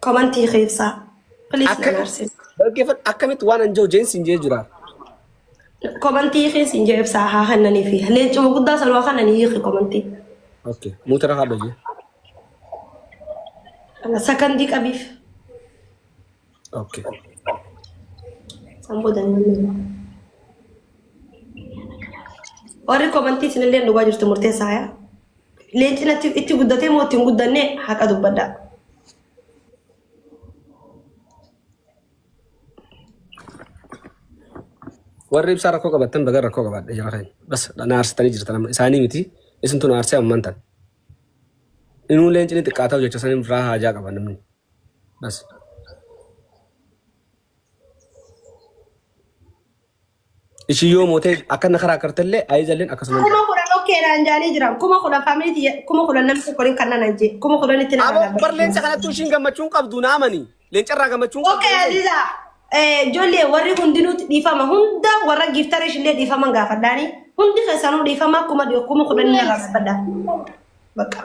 Komantii keessaa. Please na Akkamitti naarsisu. dhaggeeffadhu akkamitti waan anjoo jeen siin jee jira. Komantii keessa hin jeebsaa haa hannanii fi leencuma guddaa sana waa hannanii hiiki komantii. Okay. Muutara haadha jee. Sakandii qabiif. Okay. San booda hin hannanii. Warri komantii isinillee dhugaa jirtu murteessaa yaa. Leenci natti itti guddatee moo itti hin guddanne haqa dubbadhaa. Warri ibsaa rakkoo qabattan baga rakkoo qabaadha jara keenya. Bas na aarsitanii jirtan amma isaanii miti isintu na aarsee amman tan. Inuu leenci ni xiqqaataa hojjecha sanii irraa haajaa qaba namni. Bas. Isin yoo mootee akkana karaa kartallee ayizalleen akkasuma. Kuma kudhan okkeedhaan jaanii jiran. Kuma kudhan faamiliiti kuma kudhan namni tokko hin kannan ajjee. Kuma kudhan itti nama Aboo bar leenca kanattuu ishiin gammachuun qabdu naamani. Leencarraa gammachuun qabdu. Okkee Aziza ijoollee warri hundinuutti dhiifama hunda warra giiftarii ishillee dhiifama gaafadhaani. Hundi keessanuu dhiifama kuma kuma kudhan irraa gaafadha. Bakka.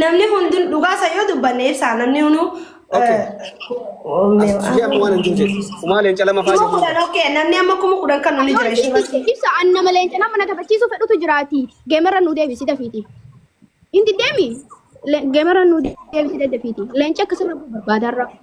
Namni hundun dhugaa isa yoo dubbanne ibsaa namni hunduu. Okay. Asxii amma waan hin jirreef. Kumaa leenca lama faa Kuma jedhu. kudhan okay namni amma kuma kudhan kan nuni jira ishee irratti. Ibsa an nama leenca nama na taphachiisu fedhutu jiraati. Geemarra nu deebisi dafiiti. Inti deemi. Le- Geemarra nu deebisi dafiiti. Leenca akkasirra barbaadaarra.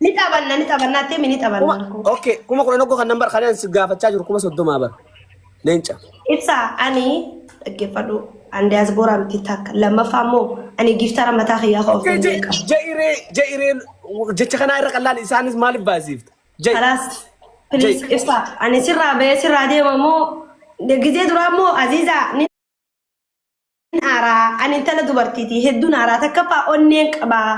Ni taphanna ni taphanna attee mi ni kuma taphanna akkoo. okay kuma kudhan oggoo kan nan bar kan an si gaafachaa jiru kuma soddomaa bar leenca Ibsa ani dhaggeeffadhu an diaspora miti takka lammaffaa immoo ani giftara mataa kiyyaa koo of Jai- danda'e jai- qaba. jairee jairee jecha kanaa irra kan laali isaanis maaliif baasiifta jai Kalaas please Jai. ibsa ani sirraa ba'ee sirraa deema moo gizee duraa moo Aziizaa ni aaraa ani intala dubartiiti hedduun aaraa takkaffaa onneen qabaa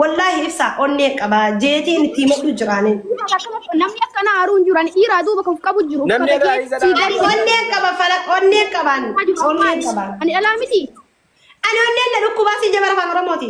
wallaahi ibsaa onneen qabaa jeetiin itti himadhu jiraanin Namni akkana haaruu hin jiru. Ani dhiiraa duuba kan qabu jiru. Namni irraa isa Sii dhaabaa. gadi- onneen qaba fala onneen qabaan onneen qabaan Ani dhalaa miti. ani onneen na dhukkubaa si jabara afaan oromooti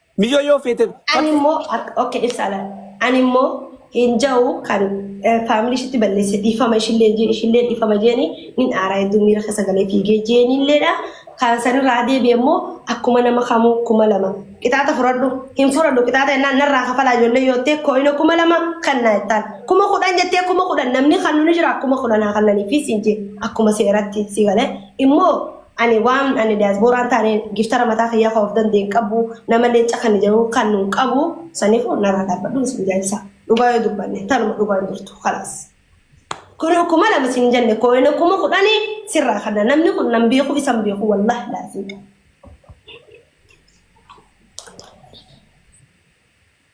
Miyyoo yoo feete Ani fardi immoo ak- okay ibsa ala. Ani immoo hin ja'u kan faamilii ishitti balleesse dhiifama ishillee hin jeeni ishillee dhiifama jeeni nin aaraa hedduu miira keessa galee fiigee jeeni illeedha. Kan sanirraa deebi'e immoo akkuma nama kamuu kuma lama qixaata fudhadhu hin fudhadhu qixaata jennaan narraa kafalaa ijoollee yoo ta'e kooyina kuma lama kan naa jettaan kuma kudhan jettee kuma kudhan namni kan nuni jira kuma kudhan haa kannanii fi siin jee akkuma seeratti si galee immoo Ani waan ani diaspora hin taane giftara mataa kiyyaa kan of danda'e hin qabu nama leenca kan jedhu kan hin qabu sanifu narraa dhaabbadhu isin jaajsa dhugaa yoo dubbanne tanuma dhugaa hin jirtu kalaas. Kun kuma lama siin jenne kooyina kuma kudhani sirraa kana namni kun nan beeku isan beeku wallahi laafii.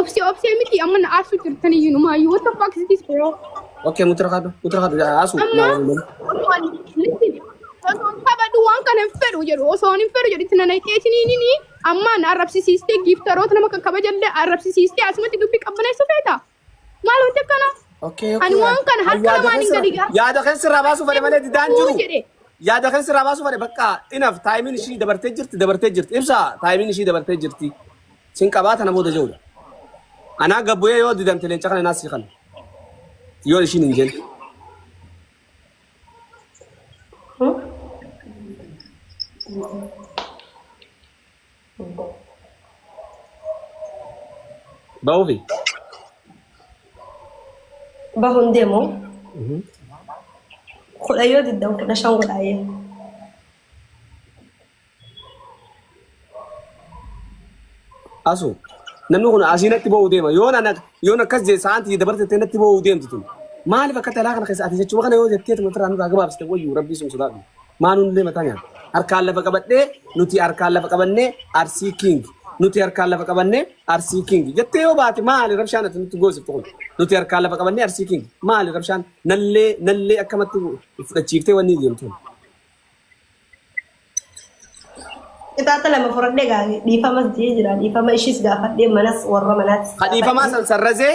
Obsee obsee miti amma na aarsuu jirtan iyyuu numaayyuu what the fuck is this bro? Okay, mutra kadu, mutra kadu ya asu. Amma Na wali. osoo ani listen osoo hin qabadhu waan kana hin fedhu jedhu osoo hin fedhu jedhu itti nanaqee isiniinini amma na arrabsisiistee giiftaroota nama kan kabajallee arrabsisiistee asumatti dubbii qabbaneessu feeta. Maal wanti akkana? Okay, okay. Ani waan kana harka Yaada lamaan hin keessa- gadi ga'a. Yaada keessa irraa baasuu fade malee didaan jiru. jedhe. Yaada keessa irraa baasuu fade bakka inaf taayimiin ishii dabartee jirti dabartee jirti. Ibsa taayimiin ishii dabartee jirti. Sin qabaa tana booda jiru. Anaa gabbuyee yoo didamte leenca kana naasii kana. Yoo ishiin hin jenne. Ba'uufi. Bahuun deemu kudha yoo diddan kudha shan godhaayee. Asu. Namni kun asii natti ba'uu deema. Yoon ana yoon akkas jee saantii dabartee natti ba'uu deemti tun. Maaliif akka talaa kana keessa ati jechuma kana yoo jettee tuma irraa nurraa gabaabsite wayyuu rabbii sun sodaadhu. Maa nuun deema tanya. Harkaan lafa qabadhee nuti harkaan lafa qabannee arsii king. Nuti harkaan lafa qabannee arsii king. Jettee yoo baate maali rabshaan ati nutti goosiftu kun. Nuti harkaan lafa qabannee arsii king. Maali rabshaan nallee nallee akkamatti fudhachiiftee wanni deemtu. Qixaaxa lama fudhadhee gaa dhiifamas jee jira. Dhiifama ishiis gaafadhee manas warra manaattis. Kadhiifamaa san sarrazee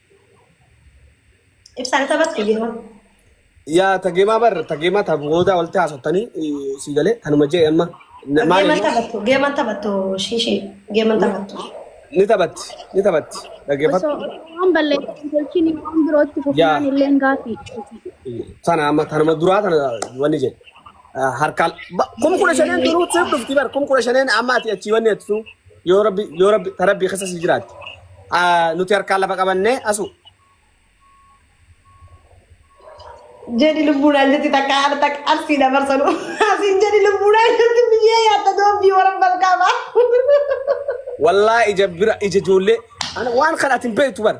Ibsaan isa batte yeroo. Yaa tageemaa bar tageemaa ta booda walitti haasoftanii sii galee kanuma jee amma na- maal Geeman immoo taphattu, geeman taphattu, shiishii, geeman taphattu. ni taphatti ni taphatti Osoo dhaggeeffadhu osoo waan balleessan tolchiin waan birootti yaa fufnaan illeen gaaffii. sana amma kanuma duraa kana wanni jedhe Ah, harkaan ba- kum kudha shaneen duruu siif dhufti bar kum kudha shaneen amma ati achii wanni jettu Yoo rabbi yoo rabbi ta rabbii keessa si jiraatte. Ah, Nuti harkaan lafa qabannee asu. Jedhi lubbuudhaan jetti takka haadha takka arsii dabarsanu. Asiin jedhi lubbuudhaan jetti biyyee yaatta doobbii warra balqaabaa. Wallaa ija bira ija ijoollee. Ana waan kana ati hin beektu bara.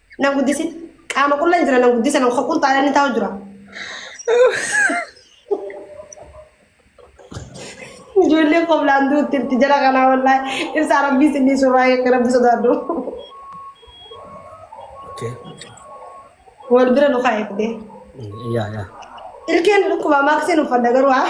Nan guddisin. Qaama qullan jira nan guddisa nan hoqul taala ni taa'u jira. Ijoollee qoflaan duutti itti jala kanaa wallaahi. Ibsaa rabbii isinii suuraa eegga rabbi sodaadhu. Okay. Wal bira nu haa eegdee. Yeah, yeah. Ilkeen dhukkuba maaksiin uffadha garuu haa.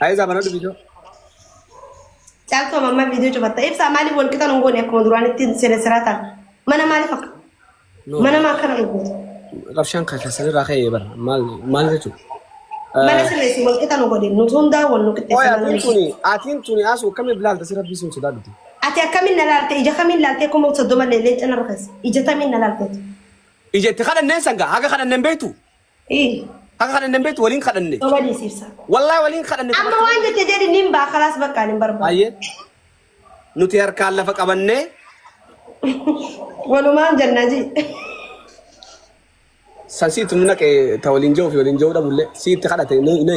Ayi zaman ada video. Caaltuu amma amma viidiyoo cufatta. Ibsaa maaliif wal qixan hin goone akkuma duraanitti siree siraa ta'a. Mana maaliif akka No. mana maa akkana hin gootu. Qabshaan kan keessan irraa ka'ee bara. Maal maal jechuudha? Mana sirreessi wal qixan hin goone. Nuti hundaa wal nu Oya, qixxeessa. atiin tuni, atiin tuni asuu akkamii bilaalta si rabbii sun sodaa dhuti. Ati akkamiin na laalte ija kamiin laaltee kuma soddoma leellee cina rukes ija tamiin na laalteetu. Ija itti kadhanneen sangaa haga kadhanneen beektu. Ii. Akka kadhanne hin beektu waliin kadhanne. Soba dhiisiibsa. Wallaahi waliin kadhanne. Amma waan jette jedhi nin baa kalaas bakkaan hin barbaadu. Baay'ee. Nuti harkaan lafa qabannee Walumaan jennaa ji. san siitti nu naqe ta waliin jiru fi waliin jiru dhabullee siitti kadhate ni ni.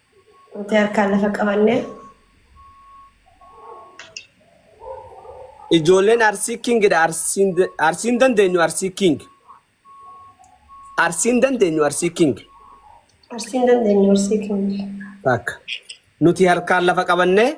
Nuti harkaan lafa qabanne. Ijoolleen Arsii King dha. Arsiin Arsiin dandeenyu Arsii King. Arsiin dandeenyu Arsii King. Arsiin dandeenyu Arsii King. Takka. Nuti harkaan lafa qabannee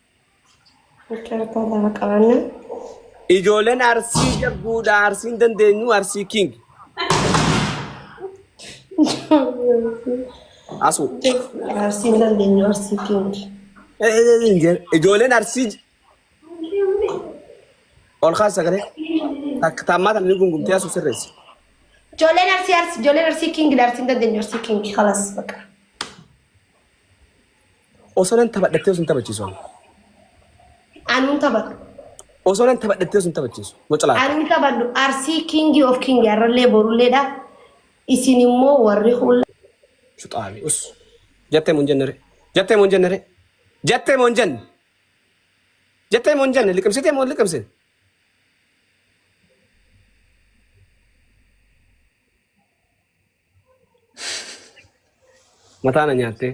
Cartaa lafa qabanna. Ijoolleen arsii jabduudha arsiin dandeenyu arsii king asu Arsiin dandeenyu arsii keenya. Eh, eh, eh, eh, ijoolleen arsii j- ol kaas sagalee takka taammaa tana ni gungumtee asu sirreessi Ijoolleen arsii arsii ijoolleen arsii kiingi arsiin dandeenyu arsii kiingi kalas baqa. Osoo nan taphadhattee osoo hin taphachiisu ani. Anuun taphadhu. Osoo nan taphadhattee osoo hin taphachiisu. Wacalaata. Anni taphadhu arsii kingi of kingi arrallee borulleedha. Isin immoo warri hulla. Shuxaami us. Jattee mun jennere. Jattee mun jennere. Jattee mun jenne. Jattee mun jenne liqimsitee mun liqimsin. Mataa na nyaattee.